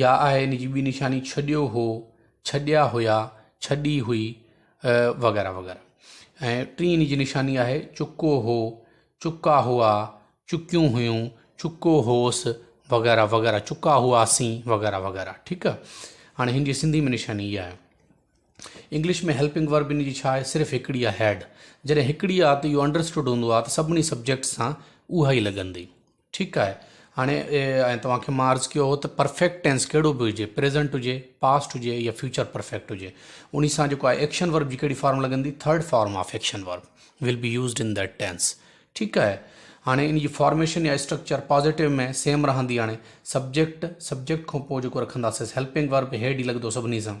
يا آهي ان جي ٻي نشاني ڇڏيو هو، ڇڏيا هيا، ڇڏي هئي وغيره وغيره ۽ ٽين ان جي نشاني آهي چڪو هو، چڪا هئا، چڪيون هيون، چڪو هوس وغيره وغيره چڪا هئاسين وغيره وغيره ٺيڪ آ هاڻي هن جي سنڌي ۾ نشاني اها آهي. انگلش ۾ هيلپنگ ورب ان جي ڇا آهي صرف هڪڙي آهي هيڊ جڏهن هڪڙي آهي ته اهو انڊرسٽوڊ هوندو آهي ته سڀني سبجيڪٽس سان اها ئي لڳندي. ٺيڪ آهي هاڻي ۽ توهان کي مان عرض ڪيو هو ته پرفيڪٽ ٽينس ڪهڙو به هجي پريزنٽ هجي پاسٽ هجي يا فيوچر پرفيڪٽ هجي ان سان جيڪو آهي ايڪشن ورب جي ڪهڙي فارم لڳندي third form of action verb will be used in that tense ٺيڪ آهي هاڻي ان جي فارميشن يا اسٽرڪچر پازيٽو ۾ سيم رهندي هاڻي سبجيڪٽ سبجيڪٽ کان پوء جيڪو رکنداسين هيلپنگ ورب هيڊ ئي لڳندو سڀني سان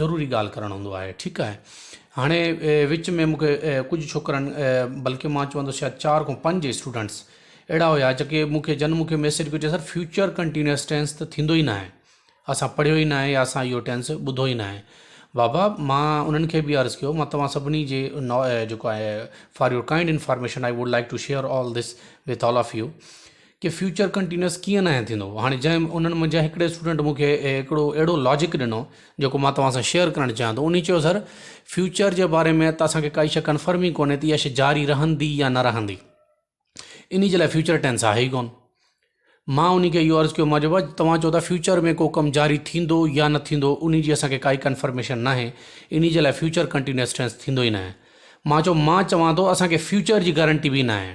ضروري ڳالهه ڪرڻ هوندو آهي ٺيڪ آهي هاڻي وچ ۾ مونکي ڪجهه ڇوڪرن بلڪه مان چوندس شايد چار کان پنج اسٽوڊنٽس اهڙا هيا جيڪي مونکي جن مونکي ميسج ڪيو چي سر فيوچر ڪنٽينيوس ٽينس ته ٿيندو ئي ناهي اسان پڙهيو ئي ناهي يا اسان اهو ٽينس ٻڌو ئي ناهي بابا مان انهن کي به عرض ڪيو مان توهان سڀني جي جيڪو آهي for your kind information I would like to share all this with all of you ڪي فيوچر ڪنٽينيوس ڪيئن ناهي ٿيندو هاڻي جنهن انهن منجهان هڪڙي اسٽوڊنٽ مون کي هڪڙو اهڙو لاجڪ ڏنو جيڪو مان توهان سان شيئر ڪرڻ چاهيان ٿو انهي چيو سر فيوچر جي باري ۾ ته اسان کي ڪائي شي ڪنفرم ئي ڪونهي ته اها شي جاري رهندي يا نه رهندي انهي جي لاء فيوچر ٽينس آهي ئي ڪونه مان انهي کي اهو عرض ڪيو مانجو بابا توهان چو ٿا فيوچر ۾ ڪو ڪم جاري ٿيندو يا نه ٿيندو انهي جي اسان کي ڪائي ڪنفرميشن ناهي انهي جي لاء فيوچر ڪنٽينيوس ٽينس ٿيندو ئي ناهي مان چو مان چوان ٿو اسان کي فيوچر جي گارنٽي به ناهي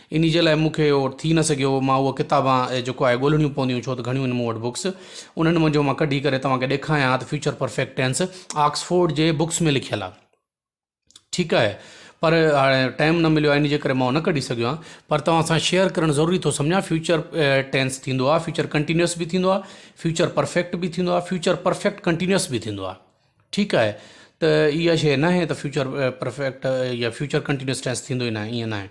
انهي جي لاء مون کي اهو ٿي نه سگهيو هو. مان اهو ڪتاب جيڪو آهي ڳولهڻيون پونديون ڇو ته گهڻيون آهن مون وٽ بڪس. انهن منجهو مان ڪڍي ڪري توهان کي ڏيکاريان ها ته فيوچر پرفيڪٽ ٽينس آڪسفورڊ جي بڪس ۾ لکيل آهي. ٺيڪ آهي پر هاڻي ٽائيم نه مليو آهي انهي جي ڪري مان اهو نه ڪڍي سگهيو آهيان پر توهان سان شيئر ڪرڻ ضروري ٿو سمجهان فيوچر ٽينس ٿيندو آهي فيوچر ڪنٽينيوس به ٿيندو آهي فيوچر پرفيڪٽ به ٿيندو آهي فيوچر پرفيڪٽ ڪنٽينيوس به ٿيندو آهي. ٺيڪ آهي ته اها شيء ناهي ته فيوچر پرفيڪٽ يا فيوچر ڪنٽينيوس ٽينس ٿيندو ئي ناهي ائين ناهي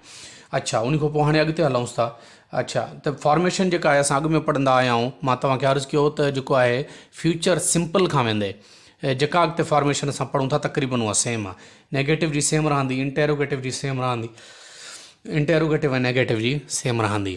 اڇا ان کان پوء هاڻي اڳتي هلونس ٿا اڇا ته فارميشن جيڪا آهي اسان اڳ ۾ پڙهندا آيا آهيون مان توهان کي عرض ڪيو ته جيڪو آهي فيوچر سمپل کان ويندي جيڪا اڳتي فارميشن اسان پڙهون ٿا تقريبن اها سيم آ نيگيٽو جي سيم رهندي انٽيروگيٽو جي سيم رهندي انٽيروگيٽو ۽ نيگيٽو جي سيم رهندي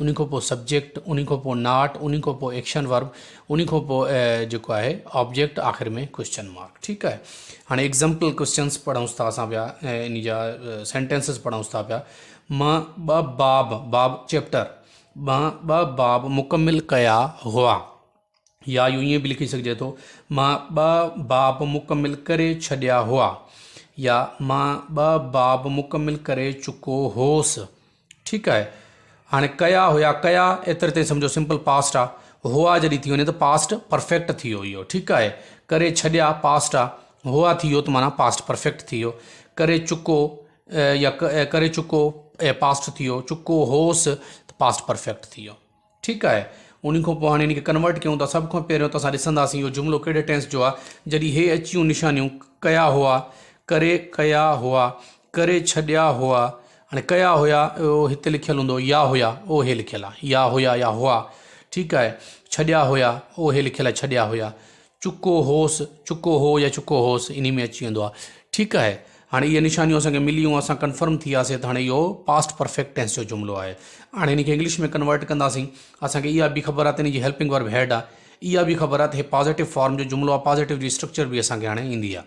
انهي کان پوء سبجيڪٽ، انهي کان پوء ناٽ، انهي کان پوء ايڪشن ورب، انهي کان پوء جيڪو آهي آبجيڪٽ آخر ۾ ڪوئسچن مارڪ ٺيڪ آهي هاڻي ايگزامپل ڪوئسچنس پڙهونس ٿا اسان پيا انهي جا سينٽينسز پڙهونس ٿا پيا م ٻه باب باب چيپٽر م ٻه باب مڪمل ڪيا هئا يا يو ائين به لکي سگهجي ٿو م ٻه باب مڪمل ڪري ڇڏيا هئا يا م ٻه باب مڪمل ڪري چڪو هوس ٺيڪ آهي هاڻي ڪيا هيا ڪيا ايتري تائين سمجهو سمپل پاسٽ آ هئا جڏهن ٿي وڃي ته پاسٽ پرفيڪٽ ٿي ويو اهو ٺيڪ آهي ڪري ڇڏيا پاسٽ آ هئا ٿي ويو ته معنيٰ پاسٽ پرفيڪٽ ٿي ويو ڪري چڪو يا ڪري چڪو پاسٽ ٿي ويو چڪو هوس ته پاسٽ پرفيڪٽ ٿي ويو ٺيڪ آهي انهي کان پوء هاڻي ان کي ڪنورٽ ڪيون ٿا سڀ کان پهريون ته اسان ڏسنداسين اهو جملو ڪهڙي ٽينس جو آهي جڏهن هي اچيون نشانيون ڪيا هئا ڪري ڪيا هئا ڪري ڇڏيا هئا هاڻي ڪيا هيا اهو هتي لکيل هوندو يا هيا اهو هي لکيل آهي يا هيا يا هئا ٺيڪ آهي ڇڏيا هيا اهو هي لکيل آهي ڇڏيا هيا چڪو هوس چڪو هو يا چڪو هوس انهي ۾ اچي ويندو آهي ٺيڪ آهي هاڻي اهي نشانيون اسان کي مليون اسان ڪنفرم ٿي وياسي ته هاڻي اهو پاسٽ پرفيڪٽ ٽينس جو جملو آهي هاڻي هن کي انگلش ۾ ڪنورٽ ڪنداسين اسان کي اها به خبر آهي ته هن جي هيلپنگ ورب هيڊ آهي اها به خبر آهي ته هي پازيٽو فارم جو جملو آهي پازيٽو جي اسٽرڪچر به اسان کي هاڻي ايندي آهي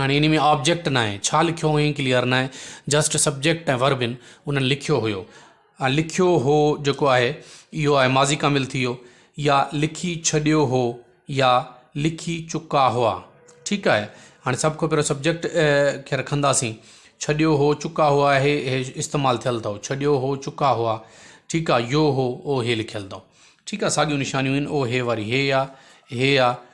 هاڻي انهي ۾ آبجيڪٽ ناهي ڇا لکيو هئين ڪليئر ناهي جسٽ سبجيڪٽ ۽ ورب ان انهن لکيو هيو ۽ لکيو هو جيڪو آهي اهو آهي ماضي ڪامل ٿي ويو يا لکي ڇڏيو هو يا لکي چڪا هئا ٺيڪ آهي هاڻي سڀ کان پهريون سبجيڪٽ کي رکنداسين ڇڏيو هو چڪا هئا هي هي استعمال ٿيل اٿو ڇڏيو هو چڪا هئا ٺيڪ آهي يو هو او هي لکيل اٿو ٺيڪ آهي ساڳيون نشانيون آهن او هي واري هي آهي هي آهي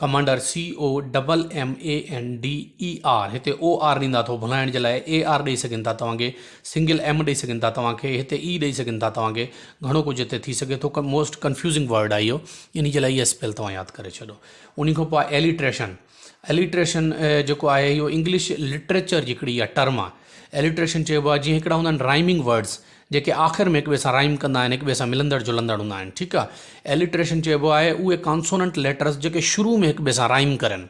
commander C O double M A N D E R هتي او آر ڏيندا اٿو ڀلائڻ جي لاء اي آر ڏئي سگهن ٿا توهان کي سنگل ايم ڏئي سگهن ٿا توهان کي هتي اي ڏئي سگهن ٿا توهان کي گهڻو ڪجهه هتي ٿي سگهي ٿو موسٽ ڪنفيوزنگ ورڊ آهي اهو ان جي لاء اي اسپيل توهان ياد ڪري ڇڏو ان کان پوء ايليٽريشن ايليٽريشن جيڪو آهي اهو انگلش لٽريچر جي هڪڙي اها ٽرم آهي ايليٽريشن چئبو آهي جيئن هڪڙا هوندا آهن رائمنگ ورڊس جيڪي آخر ۾ هڪ ٻئي سان رائيم ڪندا آهن، هڪ ٻئي سان ملندڙ جلندڙ هوندا آهن، ٺيڪ آ. Alliteration چئبو آهي اهي ڪانسوننٽ ليٽرز جيڪي شروع ۾ هڪ ٻئي سان رائيم ڪرن.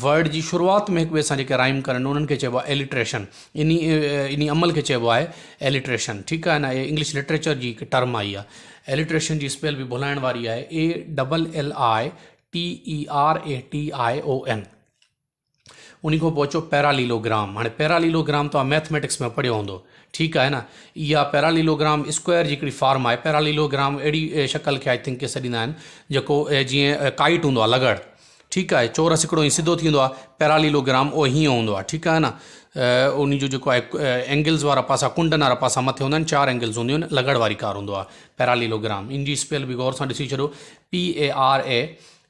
ورڊ جي شروعات ۾ هڪ ٻئي سان جيڪي رائيم ڪرن انهن کي چئبو آهي Alliteration. انهي انهي عمل کي چئبو آهي Alliteration، ٺيڪ آهي نه. اهي انگلش لٽريچر جي هڪ ٽرم آهي اها. Alliteration جي اسپيل به ڀلائڻ واري آهي ALLITERATION. انهي کان پوء اچو پيراليلوگرام. هاڻي پيراليلوگرام توهان مئٿميٽڪس ۾ پڙهيو هوندو. ٺيڪ آهي نه. اها پيراليلوگرام اسڪوئر جي هڪڙي فارم آهي. پيراليلوگرام اهڙي شڪل کي آء ٿنڪ ڪي سڏيندا آهن جيڪو جيئن ڪائٽ هوندو آهي لغڙ. ٺيڪ آهي. چورس هڪڙو ائين سڌو ٿيندو آهي. پيراليلوگرام اهو هيئن هوندو آهي. ٺيڪ آهي نه. انهي جو جيڪو آهي اينگلز وارا پاسا ڪنڊن وارا پاسا مٿي هوندا آهن چار اينگلز هونديون آهن لغڙ واري ڪار هوندو آهي پيراليلوگرام. ان جي اسپيل به غور سان ڏسي ڇڏو PARA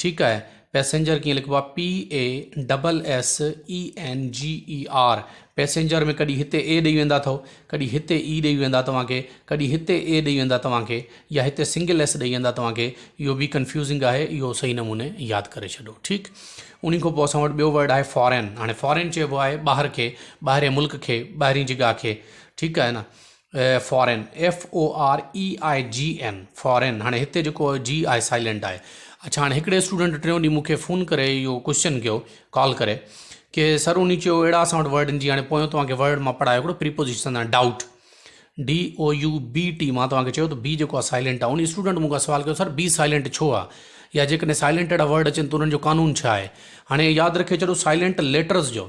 ٺيڪ آهي پئسينجر ڪيئن لکبو آهي PASSENGER پئسينجر ۾ ڪڏي هتي اي ڏئي ويندا اٿو ڪڏي هتي اي ڏئي ويندا توهان کي ڪڏي هتي اي ڏئي ويندا توهان کي يا هتي سنگل ايس ڏئي ويندا توهان کي اهو به ڪنفيوزنگ آهي اهو صحيح نموني ياد ڪري ڇڏو ٺيڪ انهي کان پوء اسان وٽ ٻيو ورڊ آهي فارين هاڻي فارين چئبو آهي ٻاهر کي ٻاهرين ملڪ کي ٻاهرين جگاهه کي ٺيڪ آهي نه فارين FOREIGN فارين هاڻي هتي جيڪو جي آهي سائلنٽ آهي اڇا هاڻي هڪڙي اسٽوڊنٽ ٽيون ڏينهن مونکي فون ڪري اهو ڪوشچن ڪيو ڪال ڪري ڪي سر انهي چيو اهڙا اسان وٽ ورڊ جي هاڻي پويون توهان کي ورڊ مان پڙهايو هڪڙو پريپوزيشن آهي ڊائوٽ DOUBT مان توهان کي چيو ته بي جيڪو آهي سائلنٽ آهي انهي اسٽوڊنٽ مون کان سوال ڪيو سر بي سائلنٽ ڇو آهي يا جيڪڏهن سائلنٽ اهڙا ورڊ اچن ته انهن جو قانون ڇا آهي هاڻي ياد رکي ڇڏو سائلنٽ ليٽرز جو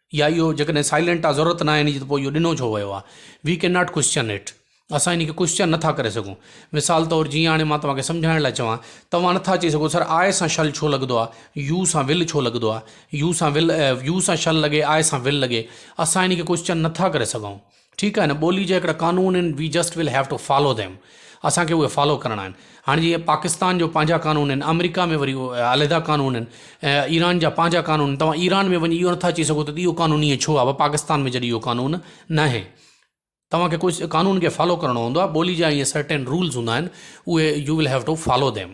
يا اهو جيڪڏهن سائلنٽ آ ضرورت ناهي ان جي ته پوء اهو ڏنو ڇو ويو آ. We can not question it اسان ان کي ڪوسچن نٿا ڪري سگهون. مثال طور جيئن هاڻي مان توهان کي سمجهائڻ لاء چوان توهان نٿا چئي سگهو سر آء سان شل ڇو لڳندو آ يو سان ول ڇو لڳندو آ يو سان ول يو سان شل لڳي آء سان ول لڳي اسان ان کي ڪوسچن نٿا ڪري سگهون. ٺيڪ آهي نه ٻولي جا هڪڙا قانون آهن we just will have to follow them اسان کي اهي فالو ڪرڻا آهن هاڻي جيئن پاڪستان جو پنهنجا قانون آهن آمريڪا ۾ وري علحده قانون آهن ايران جا پنهنجا قانون آهن توهان ايران ۾ وڃي اهو نٿا چئي سگهو ته اهو قانون ائين ڇو آهي پاڪستان ۾ جڏهن اهو قانون نه آهي توهان کي ڪجهه قانون کي فالو ڪرڻو هوندو آهي ٻولي جا ائين سرٽين رولز هوندا آهن اهي you will have to follow them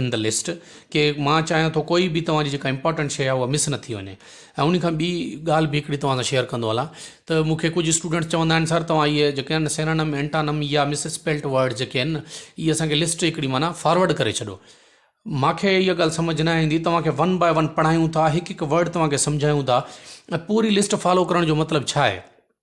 in the list ڪي مان چاهيان ٿو ڪوئي به توهان جي جيڪا امپارٽنٽ شي آهي اها مس نه ٿي وڃي ۽ ان کان ٻي ڳالهه به هڪڙي توهان سان شيئر ڪندو هلان ته مون کي ڪجهه اسٽوڊنٽس چوندا آهن سر توهان اهي جيڪي آهن سينانم اينٽانم يا مس اسپيلٽ ورڊ جيڪي آهن نه اهي اسانکي لسٽ هڪڙي معنيٰ فارورڊ ڪري ڇڏو ماکي اها ڳالهه سمجھ نه ايندي توهان کي ون باء ون پڙهايون ٿا هڪ هڪ ورڊ توهان کي سمجهايون ٿا ۽ پوري لسٽ فالو ڪرڻ جو مطلب ڇا آهي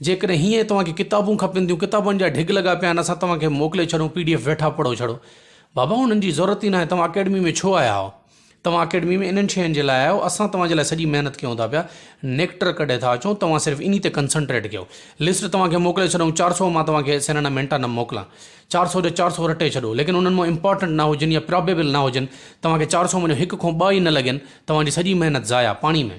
جيڪڏهن هيئن ئي توهان کي ڪتابون کپن ٿيون، ڪتابن جا ڍڳ لڳا پيا آهن، اسان توهان کي موڪلي ڇڏون، پي ڊي ايف ويٺا پڙهو ڇڙو. بابا انهن جي ضرورت ئي ناهي، توهان اڪيڊمي ۾ ڇو آيا آهيو؟ توهان اڪيڊمي ۾ انهن شين جي لاء آيا آهيو، اسان توهان جي لاء سڄي محنت ڪيون ٿا پيا، نيڪٽر ڪڍي ٿا اچون، توهان صرف انهي تي ڪنسنٽريٽ ڪيو. لسٽ توهان کي موڪلي ڇڏون، چار سؤ مان توهان کي سينانا مينٽانم موڪلان. چار سؤ جا چار سؤ رٽي ڇڏو، ليڪن انهن مان امپارٽنٽ نه هجن يا پرابيبل نه هجن، توهان کي چار سؤ مان جو هڪ کون ٻه ئي نه لڳين، توهان جي سڄي محنت ضايع، پاڻي ۾.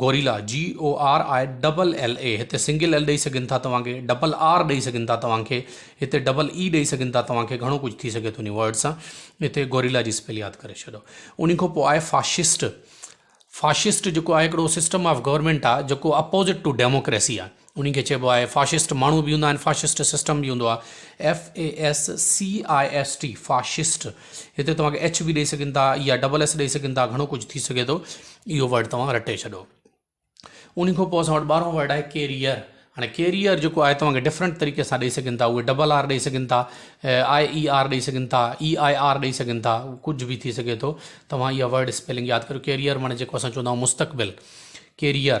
Gorilla, G O R I double L A, هتي سنگل ايل ڏئي سگهن ٿا توهان کي، ڊبل آر ڏئي سگهن ٿا توهان کي، هتي ڊبل اي ڏئي سگهن ٿا توهان کي، گهڻو ڪجهه ٿي سگهي ٿو انهي ورڊ سان، هتي گوريلا جي اسپيل ياد ڪري ڇڏيو. انهي کان پوء آهي فاشسٽ، فاشسٽ جيڪو آهي هڪڙو سسٽم آف گورنمينٽ آهي جيڪو اپوزٽ ٽو ڊيموڪريسي آهي. انهي کي چئبو آهي فاشسٽ، ماڻهو به هوندا آهن فاشسٽ، سسٽم به هوندو آهي FASCIST فاشسٽ، هتي توهان کي ايڇ به ڏئي سگهن ٿا يا ڊبل ايس ڏئي سگهن ٿا گهڻو ڪجهه ٿي سگهي ٿو اهو ورڊ توهان رٽي ڇڏو. انهي کان پوء اسان وٽ ٻارهون ورڊ آهي ڪيريئر، هاڻي ڪيريئر جيڪو آهي توهان کي ڊفرنٽ طريقي سان ڏئي سگهن ٿا اهي ڊبل آر ڏئي سگهن ٿا آء اي آر ڏئي سگهن ٿا اي آء آر ڏئي سگهن ٿا ڪجهه به ٿي سگهي ٿو توهان اها ورڊ اسپيلنگ ياد ڪريو ڪيريئر معني جيڪو اسان چوندا آهيون مستقبل ڪيريئر.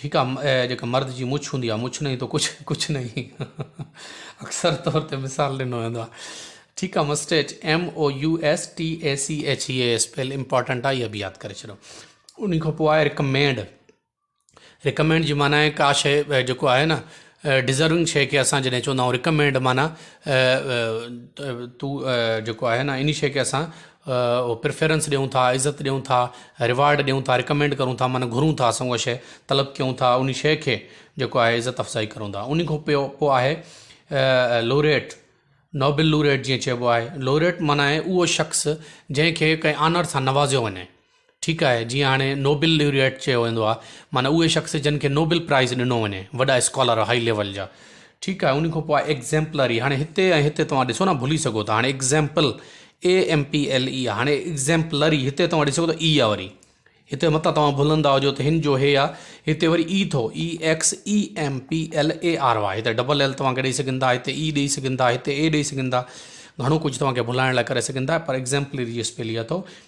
ٺيڪ آ جيڪا مرد جي مڇ هوندي آ مڇ نهين تو ڪڇ ڪڇ نهين اڪثر طور تي مثال ڏنو ويندو آ ٺيڪ آ mustache M O U S T A C H E ايس پيل امپورٽنٽ آ اها به ياد ڪري ڇڏو ان کان پوء آهي رڪمينڊ رڪمينڊ جي معنی آهي ڪا شيء جيڪو آهي نه ڊزرونگ شيء کي اسان جڏهن چوندا آهيون رڪمينڊ معنيٰ تو جيڪو آهي نه انهي شيء کي اسان پريفرنس ڏيون ٿا عزت ڏيون ٿا ريوارڊ ڏيون ٿا رڪمينڊ ڪرون ٿا معنيٰ گهرون ٿا اسان اها شيء طلب ڪيون ٿا انهي شيء کي جيڪو آهي عزت افزائي ڪرون ٿا انهي کان پيو پوء آهي لوريٽ نوبل لوريٽ جيئن چئبو آهي لوريٽ معنيٰ اهو شخص جنهن کي ڪنهن آنر سان نوازيو وڃي ٺيڪ آهي جيئن هاڻي نوبل ليوريئيٽ چيو ويندو آهي معنيٰ اهي شخص جن کي نوبل پرائز ڏنو وڃي وڏا اسڪالر هائي ليول جا ٺيڪ آهي ان کان پوء ايگزيمپلري هاڻي هتي ۽ هتي توهان ڏسو نه ڀلي سگهو ٿا هاڻي example A M P L E آهي هاڻي ايگزيمپلري هتي توهان ڏسو ٿا اي آ وري هتي متان توهان ڀلندا هجو ته هن جو هي آهي هتي وري اي ٿو E X A M P L A R Y هتي ڊبل ايل توهان کي ڏيئي سگهن ٿا هتي اي ڏيئي سگهن ٿا هتي اي ڏيئي سگهن ٿا گهڻو ڪجهه توهان کي ڀلائڻ لاء ڪري سگهن ٿا پر ايگزيمپلري جي اسپيل اي اٿو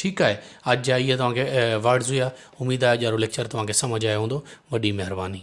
ٺيڪ آهي اڄ جا اهي توهان کي ورڊز هيا اميد آهي اڄ وارو ليڪچر توهان کي سمجهه آيو هوندو وڏي مهرباني.